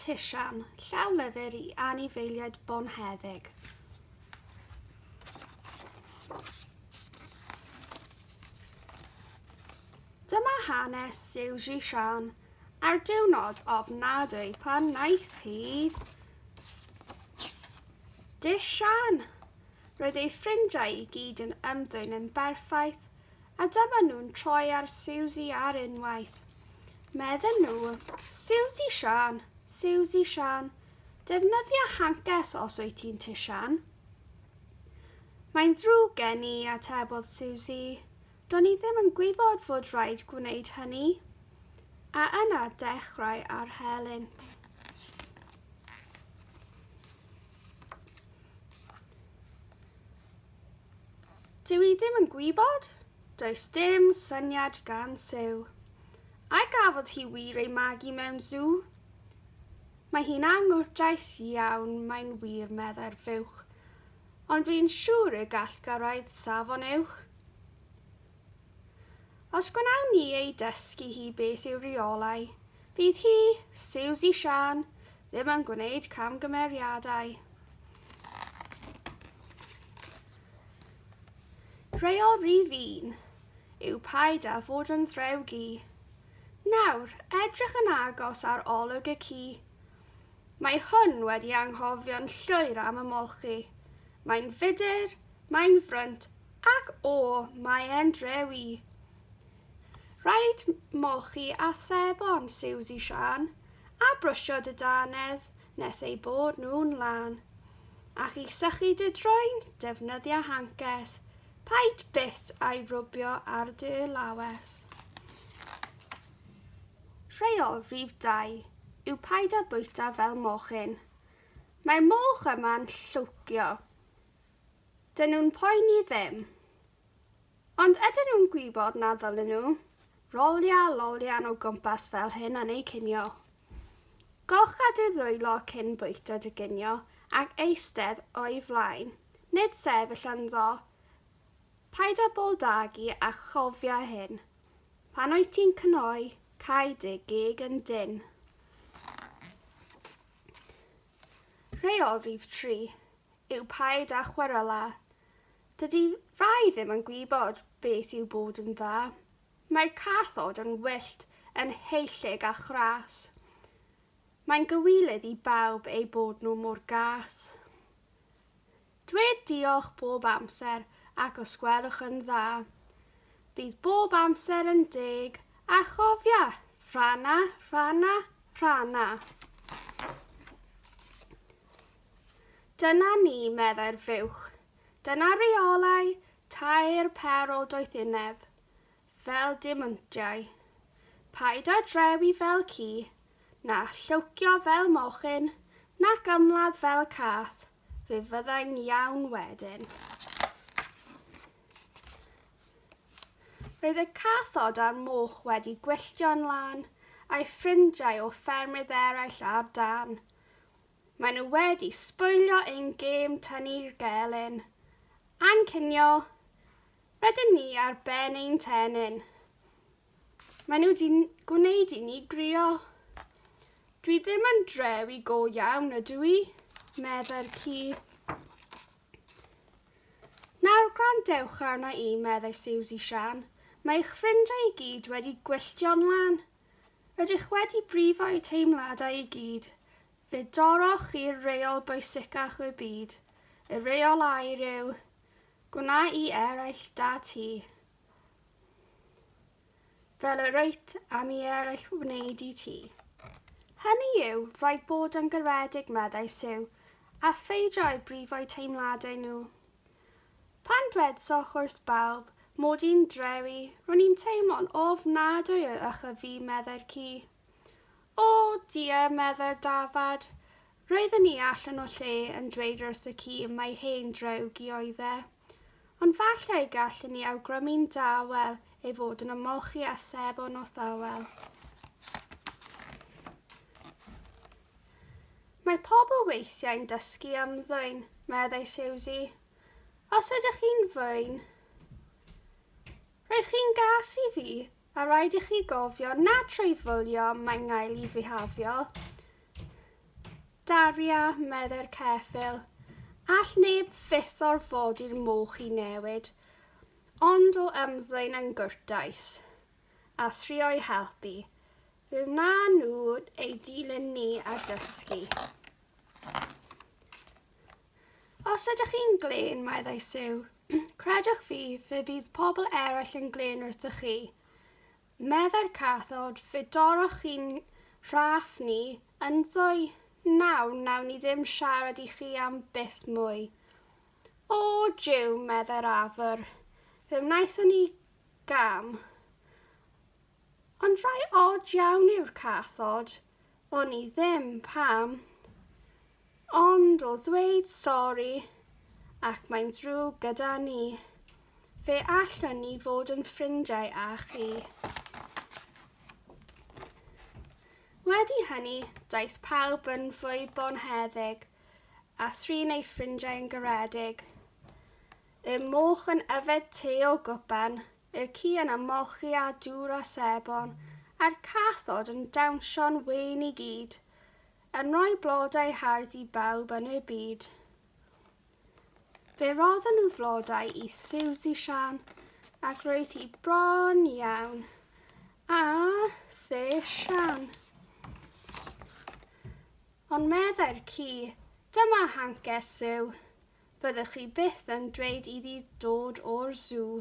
Tisian, llawlyfr i anifeiliaid bonheddig. Dyma hanes Siw Zhishan ar diwrnod ofnadwy pan wnaeth hi Disian! Roedd ei ffrindiau i gyd yn ymddwyn yn berffaith A dyma nhw'n troi ar Siwsi ar unwaith. Medden nhw, 'Siwsi Siân, Siwsi Siân, defnyddia hances os wyt ti'n tŷ Siân. Mae'n ddrwg gen i, atebodd Siwsi. Do'n i ddim yn gwybod fod rhaid gwneud hynny. A yna dechrau ar helynt. Dw i ddim yn gwybod, does dim syniad gan Siw. A gafodd hi wir ei magu mewn sŵ? Mae hi'n anghwrtais iawn, mae'n wir, meddai'r fuwch, ond dwi'n siŵr y gall gyrraedd safon uwch. Os gwnawn ni ei dysgu hi beth yw rheolau, Bydd hi, Siwsi Siân, ddim yn gwneud camgymeriadau. Rheol rif un yw paid â fod yn ddrewgi. Nawr, edrych yn agos ar olwg y ci. Mae hwn wedi anghofio'n llwyr am ymolchi. Mae'n fudr, mae'n frwnt, ac o, mae e'n drewi. Rhaid molchi a sebon Siwsi Siân, a brwsio dy dannedd nes eu bod nhw'n lân. Ac i sychu dy droen, defnyddia hancers, paid byth â'i rwbio ar dy lawes. Rheol rhif dau yw paid â bwyta fel mochyn. Mae'r moch yma'n llwcio. Dyn nhw'n poeni ddim. Ond ydyn nhw'n gwybod na ddylen nhw rolio lolian o gwmpas fel hyn yn eu cinio? Golcha dy ddwylo cyn bwyta dy ginio ac eistedd o'i flaen, nid sefyll ynddo. Paid â bol dagu a chofia hyn, pan wyt ti'n cnoi, cau dy geg yn dynn. Rheol rhif tri yw paid â chwerela. Dydy rhai ddim yn gwybod beth yw bod yn dda. Mae'r cathod yn wyllt, yn heullyg a chras. Mae'n gywilydd i bawb eu bod nhw mor gas. Dwed diolch bob amser ac os gwelwch yn dda, bydd bob amser yn deg a chofia, rhana, rhana, rhana. Dyna ni, meddai'r fuwch, Dyna reolau tair pêr o doethineb, fel diamantiau. Paid â drewi fel ci, na lliwcio fel mochyn, nac ymladd fel cath, fe fyddai'n iawn wedyn. Roedd y cathod a'r moch wedi gwylltio'n lân, a'i ffrindiau o ffermydd eraill ar dân. Maen nhw wedi sboilio ein gêm tynnu gelyn a'n cinio, rydyn ni ar ben ein tenyn. Maen nhw wedi gwneud i ni grio. Dwi ddim yn drewi go iawn ydw i, meddai'r ci. Nawr gwrandewch arna i, meddai Siwsi Sian. Mae eich ffrindiau i gyd wedi gwylltio'n lân. Ydych wedi brifo'u teimladau i gyd, fe dorrwch i'r reol bwysicach y byd, y reol aur yw, Gwna i eraill da ti, fel yr wyt am i eraill wneud i ti. Hynny yw, rhaid bod yn garedig, meddai Sue, a pheidio â'u brifo'u teimladau nhw. Pan dwedsoch wrth bawb mod i'n drewi, ro'n i'n teimlo'n ofnadwy o ych a fi, meddai'r ci. O, dia, meddai'r dafad. Roedden ni allan o lle yn dweud wrth y ci mai hen drewg i oedd e. Ond falle y gallen ni awgrymu'n dawel ei fod yn ymolchi â sebon o thywel. Mae pobl weithiau'n dysgu am ddwyn, meddai Siwsi. Os ydych chi'n ddwyn, rhaid chi'n gas i fi a rhaid i chi gofio na trwy fwlio mae ngael i fihafio. Daria, meddai'r ceffil, all neb fyth orfodi'r moch i newid, ond o ymddwyn yn gwrtais, a thrio'i helpu, Fe wnaen nhw ei dilyn ni a dysgu. Os ydych chi'n glên, meddai Siw, credwch fi, fe fydd pobl eraill yn glên wrthych chi. Meddai'r cathod, fe dorroch chi'n rhaff ni, ynddo nawr nawn ni ddim siarad i chi am byth mwy. O, jiw, meddai'r afr, fe wnaethon ni gam. Ond rhai od iawn yw'r cathod, o'n i ddim pam, ond o ddweud sori ac mae'n ddrwg gyda ni, fe allwn ni fod yn ffrindiau â chi. Wedi hynny, daeth pawb yn fwy bonheddig, a thrin ei ffrindiau yn garedig. Y moch yn yfed te o gwpan, y ci yn ymolchi â dŵr a sebon, a'r cathod yn dawnsio'n wên i gyd, yn rhoi blodau hardd i bawb yn y byd. Fe rodden nhw flodau i Siwsi Sian, ac roedd hi bron iawn. A the Sian. Ond meddai'r ci, dyma hancer Siw, fyddwch chi byth yn dweud iddi dod o'r sŵ.